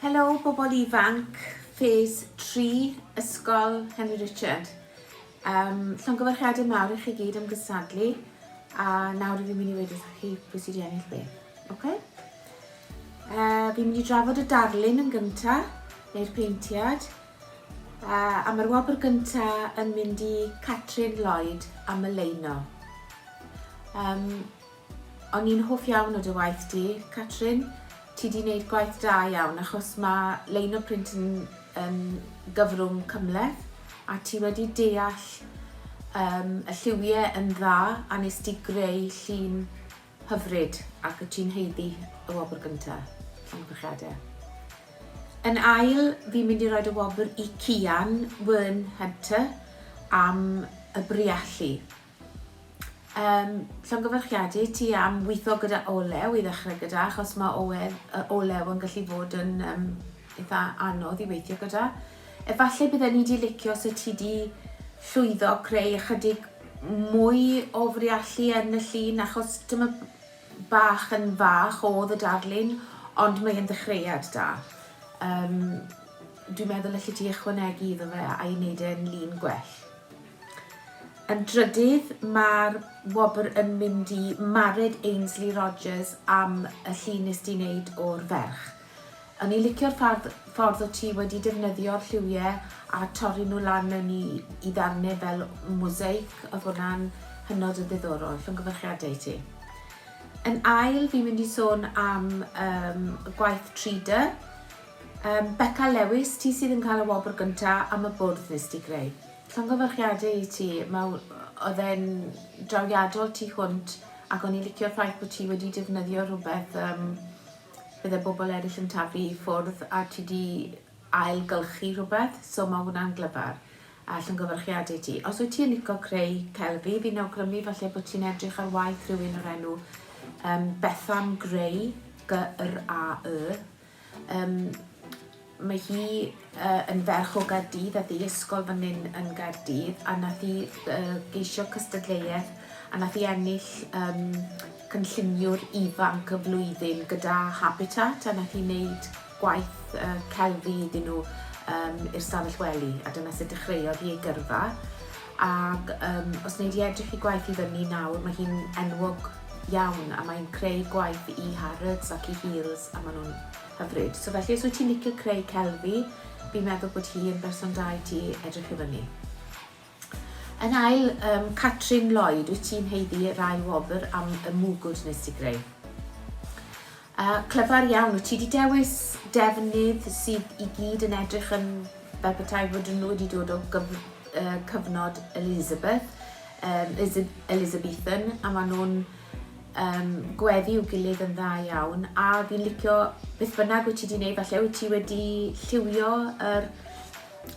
Helo bobl ifanc, ffes 3, Ysgol Henry Richard. Um, Llongyfarchiadau mawr i chi gyd am gysadlu a nawr fi'n mynd i wedi wrthych chi pwy sydd wedi ennill be. Okay? Uh, fi'n mynd i drafod y darlun yn gyntaf, neu'r peintiad, A mae'r wobr gynta yn mynd i Catrin Lloyd am y leino. Um, o'n i'n hoff iawn o dy waith di, Catrin. Ti di wneud gwaith da iawn achos mae leino print yn, yn gyfrwng cymleth a ti wedi deall um, y lliwiau yn dda a nes di greu llun Hyfryd, ac wyt ti'n haeddu y wobr gynta. Llongyfarchiade. Yn ail, fi'n mynd i roed y wobr i Cian Wern Hunter am y briallu. Um, llongyfarchiade i ti am weithio gyda olew i ddechrau gyda, achos mae olew, olew yn gallu fod yn um, eitha anodd i weithio gyda. Efallai bydden ni 'di licio os wyt ti 'di llwyddo creu ychydig mwy o friallu yn y llun achos dyma bach yn fach oedd y darlun ond mae'n ddechreuad da. Um, dwi'n meddwl allet ti ychwanegu iddo fe a'i wneud e'n lun gwell. Yn drydydd, mae'r wobr yn mynd i Mared Ainsley Rogers am y llun nes di wneud o'r ferch. O'n i licio'r ffardd- ffordd o ti wedi defnyddio'r lliwie a torri nhw lan mewn i i ddarne fel mosaic, oedd hwnna'n hynod o ddiddorol. Llongyfarchiadau i ti. Yn ail, fi'n mynd i sôn am um, gwaith 3D. Um, Becca Lewis, ti sydd yn cael y wobr gynta am y bwrdd nes ti greu. Llongyfarchiadau i ti, mae oedd e'n drawiadol tu hwnt ac o'n i licio'r ffaith bod ti wedi defnyddio rhywbeth um, Bydde bobl eraill yn taflu i ffwrdd a ti 'di ail-gylchu rhywbeth, so ma' hwnna'n glyfar, a llongyfarchiade i ti. Os wyt ti yn lico creu celf, fi, fi'n awgrymu falle bod ti'n edrych ar waith rhywun o'r enw um, Bethan Gray, G-R-A-Y. Um, Mae hi yn ferch o Gaerdydd a thi ysgol fan hyn yn Gaerdydd a nath hi geisio cystadleuaeth a nath hi ennill um, cynlluniwr ifanc y flwyddyn gyda Habitat a nath hi wneud gwaith uh, celfi iddyn nhw um, i'r stafell wely a dyna sut dechreuodd hi ei gyrfa ac um, os wneud i edrych i gwaith i fyny nawr mae hi'n enwog iawn a mae'n creu gwaith i Harrods ac i Heels a maen nhw'n Hyfryd. So felly os wyt ti'n licio creu celfi, fi'n meddwl bod hi yn berson da i ti edrych i fyny. Yn ail, um, Catrin Lloyd, wyt ti'n heiddi yr ail wobr am y mwgwd nes ti greu? Uh, clyfar iawn, wyt ti wedi dewis defnydd sydd i gyd yn edrych yn fel petai fod nhw wedi dod o gyf, uh, cyfnod Elizabeth, um, Elizabethan, a maen nhw'n um, gweddi i'w gilydd yn dda iawn a fi'n licio beth bynnag wyt ti wedi gwneud, falle wyt ti wedi lliwio yr,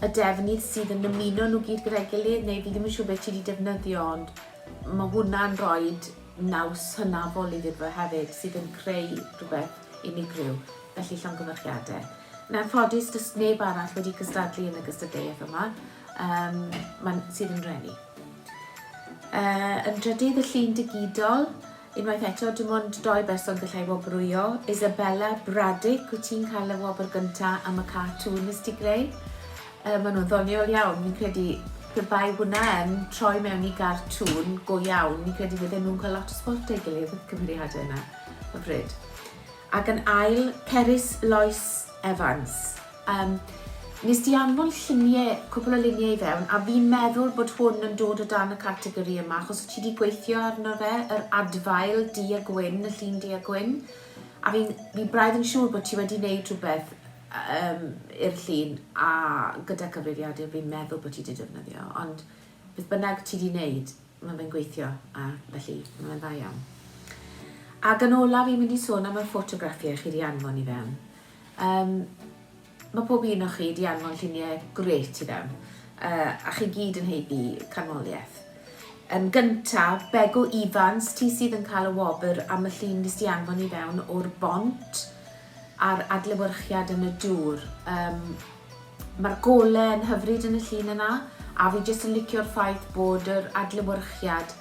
y defnydd sydd yn ymuno nhw gyd gyda'i gilydd neu fi ddim yn siŵr beth ti wedi defnyddio ond mae hwnna'n rhoi naws hynafol i ddidfa hefyd sydd yn creu rhywbeth unigryw, felly llongyfarchiadau. Yn anffodus, does neb arall wedi cystadlu yn y gystadleuaeth yma, um, man, sydd yn reni. Uh, yn drydydd y llun digidol, unwaith eto, dim ond doi berson gallai wobrwyo. Isabella Braddock, wyt ti'n cael y wobr gyntaf am y cartŵn nes ti greu? Uh, maen nhw'n ddoniol iawn, ni'n credu pe bai hwnna yn troi mewn i gartŵn go iawn, ni'n credu fydden nhw'n cael lot o sport ei gilydd y cymeriadau yna, y bryd. Ac yn ail, Cerys Lois Evans. Yym, nes di anfon llunie, cwpwl o lunie i fewn, a fi'n meddwl bod hwn yn dod o dan y categori yma, achos ti di gweithio arno fe, yr adfail du a gwyn, y llun du a gwyn, a fi'n, fi braidd yn siŵr bod ti wedi neud rhywbeth um, i'r llun, a gyda cyfrifiadur fi'n meddwl bod ti di defnyddio, ond beth bynnag ti di neud, Mae fe'n gweithio a felly mae fe'n dda iawn. Ac yn olaf i'n mynd i sôn am y ffotograffiau chi wedi anfon i fewn. Um, mae pob un o'ch chi wedi anfon lluniau gret i fewn, uh, a chi gyd yn heiddi canmoliaeth. Yn gynta, Begw Ifans, ti sydd yn cael y wobr am y llun nes di anfon i fewn o'r bont. a'r adlewyrchiad yn y dŵr. Yym mae'r gole yn hyfryd yn y llun yna a fi jyst yn licio'r ffaith bod yr adlewyrchiad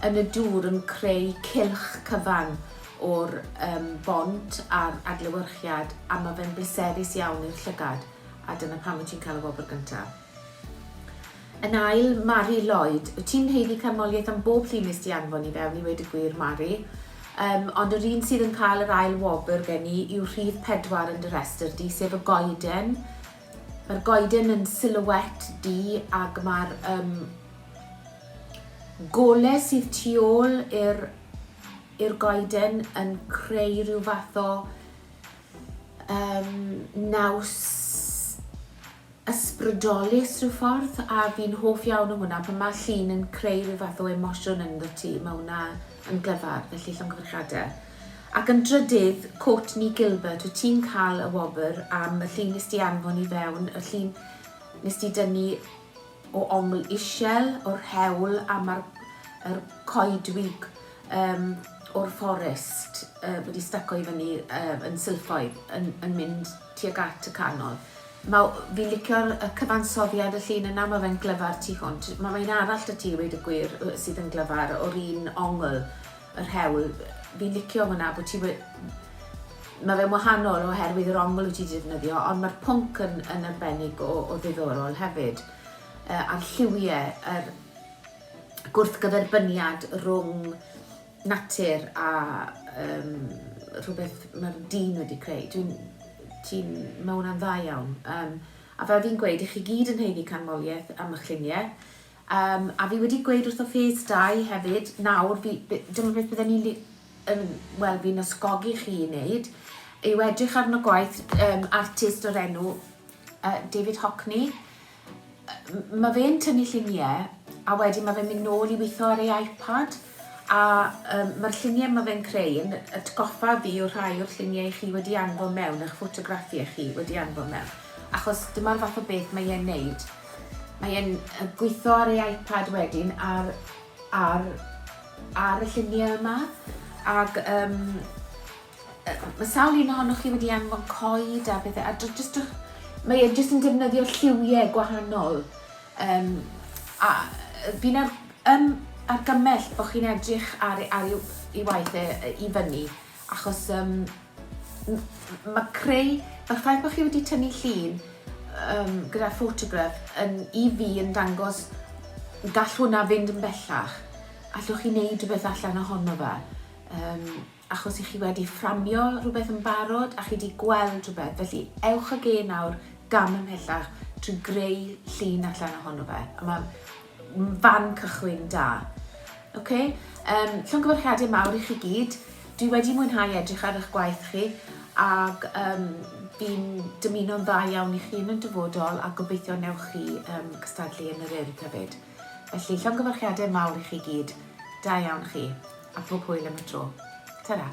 yn y dŵr yn creu cylch cyfan o'r um, bont a'r adlewyrchiad a mae fe'n bleserus iawn i'r llygad a dyna pam wyt ti'n cael y wobr gyntaf. Yn ail, Mari Lloyd. Wyt ti'n haeddu canmoliaeth am bob llun nes di anfon i fewn i weud y gwir, Mari. Yym, ond yr un sydd yn cael yr ail wobr gen i yw rhif pedwar yn dy rhestr di, sef y goeden. Mae'r goeden yn silhouette di ac mae'r um, gole sydd tu ôl i'r i'r goeden yn creu rhyw fath o um, naws ysbrydolus rhyw ffordd a fi'n hoff iawn o hwnna pan ma' llun yn creu rhyw fath o emosiwn ynddo ti, ma' hwnna yn glyfar, felly llongyfarchiade. Ac yn drydydd, Courtney Gilbert, wyt ti'n cael y wobr am y llun nes di anfon i fewn, y llun nes di dynnu o ongl ishel o'r hewl a ma'r yr coedwig um, o'r fforest uh, wedi staco i fyny uh, yn sylffoedd yn, yn mynd tuag at y canol. Mae... fi'n licio'r y cyfansoddiad y llun yna, mae fe'n glyfar tu hwnt. Mae mae un arall 'da ti i weud y gwir yy sydd yn glyfar, o'r un ongl, yr hewl. Fi'n licio hwnna bod ti we- Mae fe'n wahanol oherwydd yr ongl wyt ti 'di defnyddio ond mae'r pwnc yn yn arbennig o o ddiddorol hefyd. Yy a'r lliwie, yr gwrthgyferbyniad rwng natur a yym rhywbeth mae'r dyn wedi creu. Dwi'n... ti'n... mae hwnna'n dda iawn. Yym, a fel fi'n gweud, i chi gyd yn haeddu canmoliaeth am eich lluniau. Um, a fi wedi gweud wrtho Phase 2 hefyd, nawr, fi, dyma beth bydden ni'n yn, wel, fi'n ysgogi chi i wneud, yw edrych arno gwaith um, artist o'r enw uh, David Hockney, Mae fe'n tynnu lluniau a wedyn mae fe'n mynd nôl i weithio ar ei iPad a yym mae'r lluniau mae fe'n creu yn atgoffa fi o rhai o'r lluniau i chi wedi anfon mewn, eich ffotograffiau chi wedi anfon mewn, achos dyma'r fath o beth mae e'n neud. Mae e'n gweithio ar ei iPad wedyn ar ar ar y lluniau yma ac yym Mae sawl un ohonoch chi wedi anfon coed a pethau, a jyst, mae e jyst yn defnyddio lliwiau gwahanol. Um, a fi'n ar, um, argymell bod chi'n edrych ar, ar ei, ei waith e, e, i fyny, achos um, mae creu, mae'r ffaith bod chi wedi tynnu llun um, gyda'r ffotograff yn, i fi yn dangos gall hwnna fynd yn bellach. Allwch chi wneud rhywbeth allan ohono fe. Um, achos i chi wedi fframio rhywbeth yn barod a chi wedi gweld rhywbeth, felly ewch ag e nawr gam ymhellach trwy greu llun allan ohono fe. A mae'n fan cychwyn da. Okay? Um, llongyfarchiadau mawr i chi gyd. Dwi wedi mwynhau edrych ar eich gwaith chi ac um, fi'n dymuno'n dda iawn i chi yn y dyfodol a gobeithio newch chi um, cystadlu yn yr urdd hefyd. Felly, llongyfarchiadau mawr i chi gyd. Da iawn chi. A phob hwyl am y tro. Ta-ra.